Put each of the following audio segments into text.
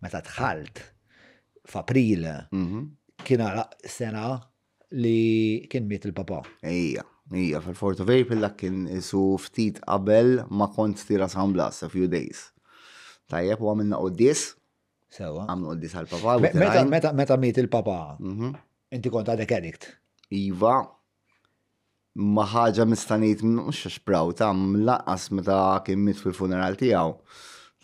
Meta dħalt f'April kien għaraq sena li kien miet il-papa. Ejja, ejja, fil-4 of April dak kien isu ftit qabel ma kont tira San Blas, a few days. Tajjeb, u għamilna qoddis. Sewa. Għamlu qoddis għal-papa. Meta miet il-papa, mhm. inti kont għadek edikt. Iva, ma ħaġa nista' ngħid mhux għax praw ta' mlaqqas meta kien mit fil-funeral tiegħu.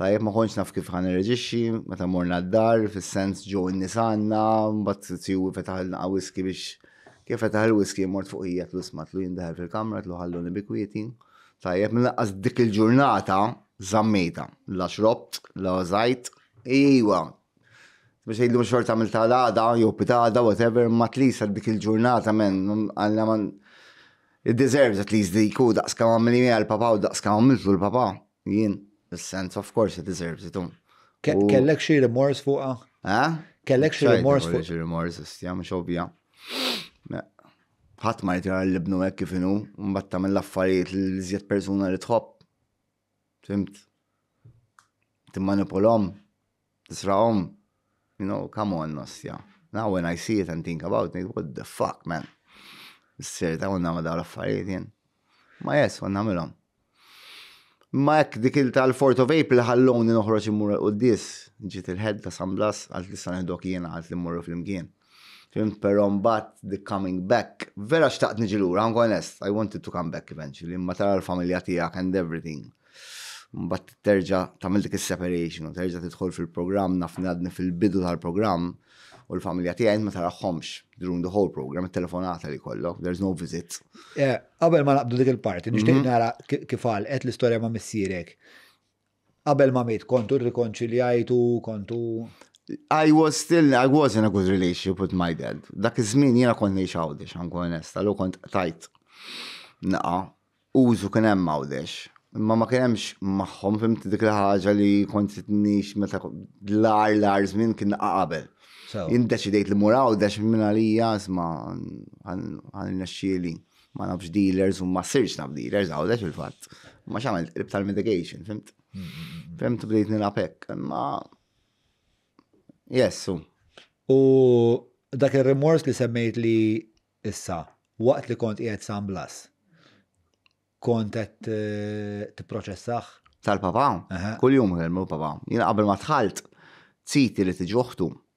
Tajjeb ma kontx naf kif ħan irreġixxi meta morna d-dar fis-sens ġew in-nies għandna, mbagħad tiegħu fetaħ il-naqa' whisky biex kif fetaħ il-whisky mort fuq hija tlu isma' tlu jien daħal fil-kamra tlu ħalluni bi kwieti. Tajjeb mlaqqas dik il-ġurnata żammejta la xrobt, la żajt, iwa, Biex jgħidlu xorta għamil tal-għada, jew pitada, whatever, ma tlis għal dik il-ġurnata men, għalla man. It deserves at least dik u daqs kam għamil jgħal papa u daqs kam għamiltu l-papa. Jien, sense of course it deserves it. Um. Kellek xie remors fuqa? Eh? Kellek xie remors fuqa? Xie remors, istja, mux obja. ħadd ma jtira l-ibnu hekk kif inhu, mbagħad tagħmel l-affarijiet li żjed persuna li tħobb. Fimt? Timmanipulhom, tisraqhom, you know, come on, nostja. Now when I see it and think about it, what the fuck, man? Sir, ta' unna ma daw l-affarijiet jien. Ma jes, unna milom. Ma jekk dik il tal-Fort of April ħalloni noħroġ immur l-qoddis, ġiet il-ħed ta' San Blas, għalt li san dok jiena, għalt li mmurru fl-imkien. Fim, pero mbatt the coming back, vera xtaqt niġi lura, għangu onest, I wanted to come back eventually, imma tara l-familja tijak and everything. Mbatt terġa tamil dik il-separation, u terġa tidħol fil-program, nafni għadni fil-bidu tal-program, u l-familja tijaj ma taraħħomx during the whole program, il-telefonata li kollok, there's no visit. Għabel eh, ma naqbdu dik il-parti, nishtiq mhm. nara kif għal, għet l-istoria ma missirek. Qabel ma miet kontu rrikonċiljajtu, kontu. I was still, I was in a good relationship with my dad. Dak iż-żmien jiena kont ngħix Għawdex, għankun onesta, l kont tajt naqa' użu kien hemm Għawdex. Imma ma kien hemmx magħhom fimt dik il-ħaġa li kont nix meta l-ar l-ar żmien kien naqa' qabel. Jien deċidejt li mur Għawdex minn għalija isma' għan nexxieli. ma nafx dealers u ma sirx naf dealers għawdex il-fatt. Ma xamil qrib tal-mitigation, fimt? Fimt bdejt nilapek, ma. Jessu. U dak il-rimors li semmejt li issa, waqt li kont qiegħed San Blas, kont qed eh, tipproċessaħ? Tal-papa, kull jum kelmu papa. Jina qabel ma tħalt, citi li tiġuħtu,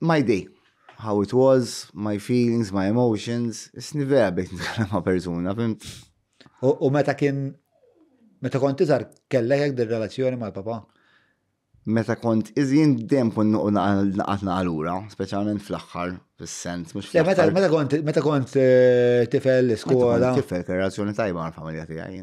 My day, how it was, my feelings, my emotions, isni vera bdejt nitkellem ma' persuna, fimt? U meta kien, meta kont iżar kellek hekk dir-relazzjoni mal-papa? Meta kont iżin dem kun nuqu naqat naqalura, speċjalment fl-aħħar, fis-sens, mhux fl-aħħar. Meta kont tifel l-iskola. Tifel, relazzjoni tajba mal-familja tiegħi.